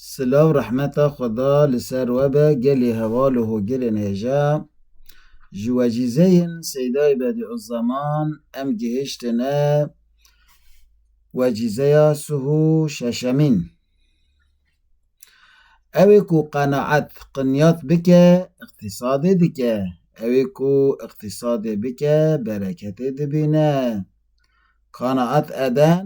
Silav rehmeta Xweda li ser we be gelê heval û hogirên hêja. Ji wecîzeyên Seydayê Bedîuzaman em gihiştine wecîzeya suhû şeşemîn. Ewê ku qenaet qinyat bike îqtîsadê dike, ewê ku îqtîsadê bike bereketê dibîne. Qenaet eden.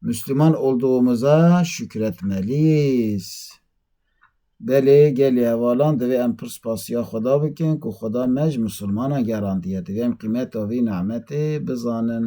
Müslüman olduğumuza şükür etmeliyiz. Belê gelê hevalan divê em pir spasiya Xweda bikin ku Xweda me ji Musulmanan gerandiye. Divê em qîmeta vî nimetê bizanin.